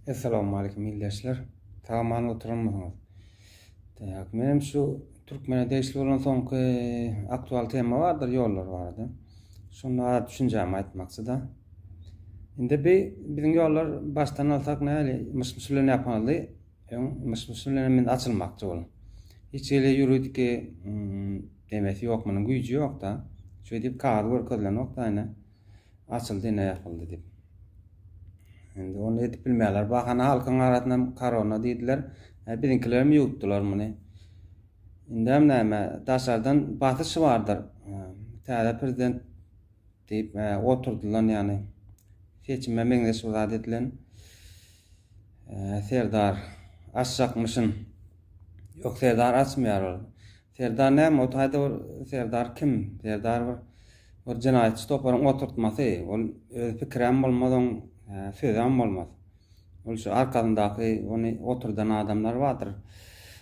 Essalawmalikim ildeşler. Saman oturanmysyňyz? Tak, menem şu türkmene degişli bolan soňky aktual tema bardyr ýollar barada. Şonda az düşünjämi aýtmakçyda. Indi bi biziň ýollar başdan alsak näli myş-myş bilen ýapyldy. Öň myş-myş bilen men açylmakçy ol. Hiç hili ýuridiki demesi ýok, munuň güýji ýok-da. Şeýdip kagaz görkezilenok-da ine. açyldy ine ýapyldy diýip. Indi ony edip bilmeýärler. Bahana halkyň arasynda korona diýdiler. E, biziňkiler hem ýuwutdylar muny. Indi hem näme, daşardan basyş bardyr. E, täze prezident diýip e, oturdylan ýany. Seçime meňzeş bir zat edilen. E, Serdar açjakmyşyn. Ýok, Serdar açmaýar ol. Serdar näme ol taýda bir serdar kim serdar bir bir jenaýatçy toparyň oturtmasy ol öz pikiräm bolmaz oň sözäm bolmaz ol şu arkasyndaky ony oturdan adamlar bardyr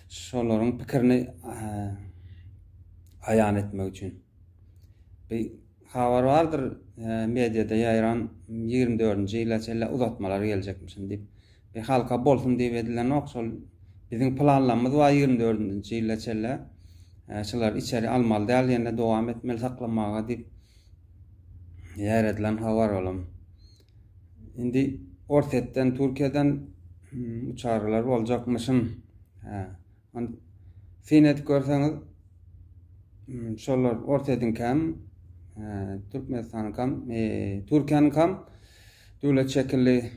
şolaryň pikirini aýan etmek üçin. Bir habar bardyr, e, mediada ýaýran 24-nji ýyla çenli uzatmalar geljekmişin diýip. Bir halka bolsun diýip edilenok, şol biziň planlarymyz bar 24-nji ýyla çenli. E, şular içeri almaly däl, ýene dowam etmeli saklamaga diýip ýaýradylan habar olam. Indi Orsetden, Türkiýeden hmm, uçarlar boljakmyşyn. Onda syn edip görseňiz, şolar Orsýetiňkäm, Türkmenistanyňkam, Türkiýäniňkam döwlet şekilli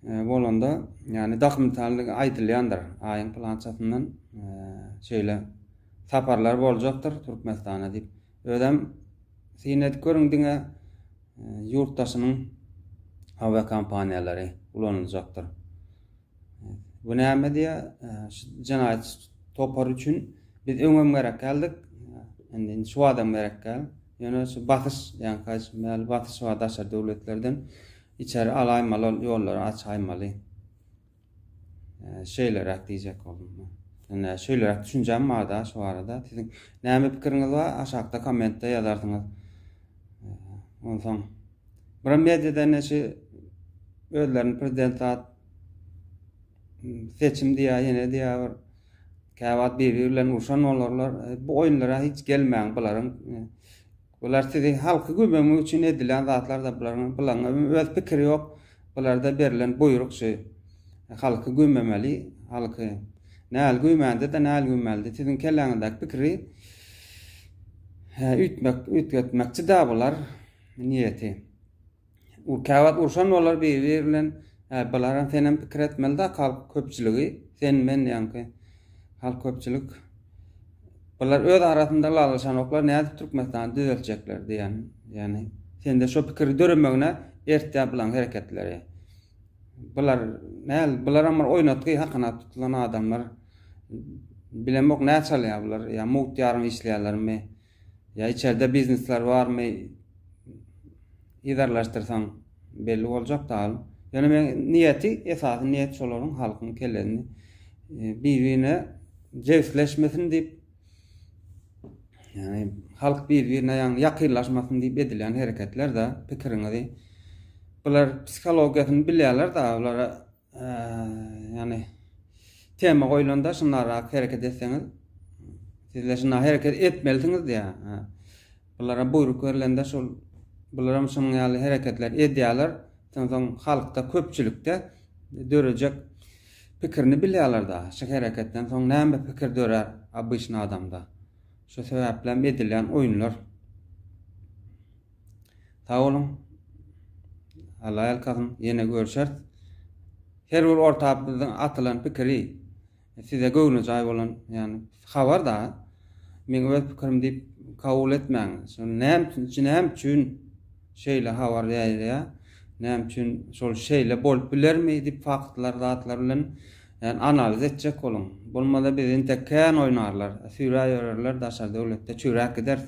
bolanda, ýagny dakmysallyk aýdylýandyr. Aýyň pylançasyndan şeýle saparlar boljakdyr Türkmenistana diýip. Özem syn edip görüň diňe ýurtdaşynyň awiakompaniýalary ulanyljakdyr. Bu näme diýýär? Şu jenaýat topary üçin biz öňem gerek geldik. Indi şu adam gerek gel. Ýöne şu basyş, ýa kaç mäli basyş bar daşary döwletlerden. Içeri alaýmaly ol ýollary açaýmaly. Şeýleräk diýjek boldum. Indi şeýleräk düşünjäm barda şu barada. Siziň näme pikiriňiz bar? Aşakda kommentde ýazarsyňyz. Onsoň Bura mediada neşe özlerini prezident zat seçim diýýär, ýene diýýär bir käwagt bir-biri bilen urşan bolarlar. E, bu oýunlara hiç gelmäň bularyň. E, bular sizi halky gübemek üçin edilen zatlar da bularyň. Bularyň öz pikiri ýok. Bularda berlen buýruk şu. E, halky gübemeli, halky. Näl gübemände de näl gübemeli. Siziň kelläňizdäki pikiri üýtmek, üýtgetmekçi de bular. Niýeti. U käwagt urşan bolar biri-biri bilen. Äý, bularam senem pikir etmeli-dä halk köpçüligi, sen, men ýaňky halk köpçülik. Bular öz arasynda lalaşanoklar, nädip Türkmenistany düzeltjekler diýen, ýagny sende şo pikiri döremegine ertýär bulaň hereketleri. Bular näl, bularam bir oýnatgy hakyna tutulan adamlar. Bilemok nä çalýar bular, ýa mugt ýarym işleýärlermi, Ýa içerde biznesler barmy yzarlaşdyrsaň belli boljak dal. Ýöne men niýeti, esasy niýet şolaryň halkyň kellesini bir-birine jebisleşmesin diýip, ýagny halk bir-birine ýagny ýakynlaşmasyn diýip edilýän hereketler-de pikiriňizi bular psihologiýasyny bilýärler-de bulara Yani tema goýlanda şunlara hereket etseňiz sizler şuna hereket etmelisiňiz diýä. Bulara buýruk berilende şol bular hem şunuň ýaly hereketler edýärler. Soň halkda köpçülikde dörejek pikirini bilýärler da. Şu hereketden soň näme pikir dörär obyçny adamda. Şu sebäpli hem edilýän oýunlar. Sag boluň. Allah ýalkasyn. Ýene görüşeris. Her bir orta biziň atylan pikiri size göwnejaý bolan, ýagny habar-da. Meň öz pikirim diýip kabul etmäň. Şony näme üçin, içi näme üçin şeýle habar ýaýylýar? Näme üçin şol şeýle bolup bilermi diýip faktlar, zatlar bilen ýagny analiz etjek boluň. Bolmasa bizi entek kän oýnarlar, süýräp ýörerler, daşary döwletde çüýräp gideris.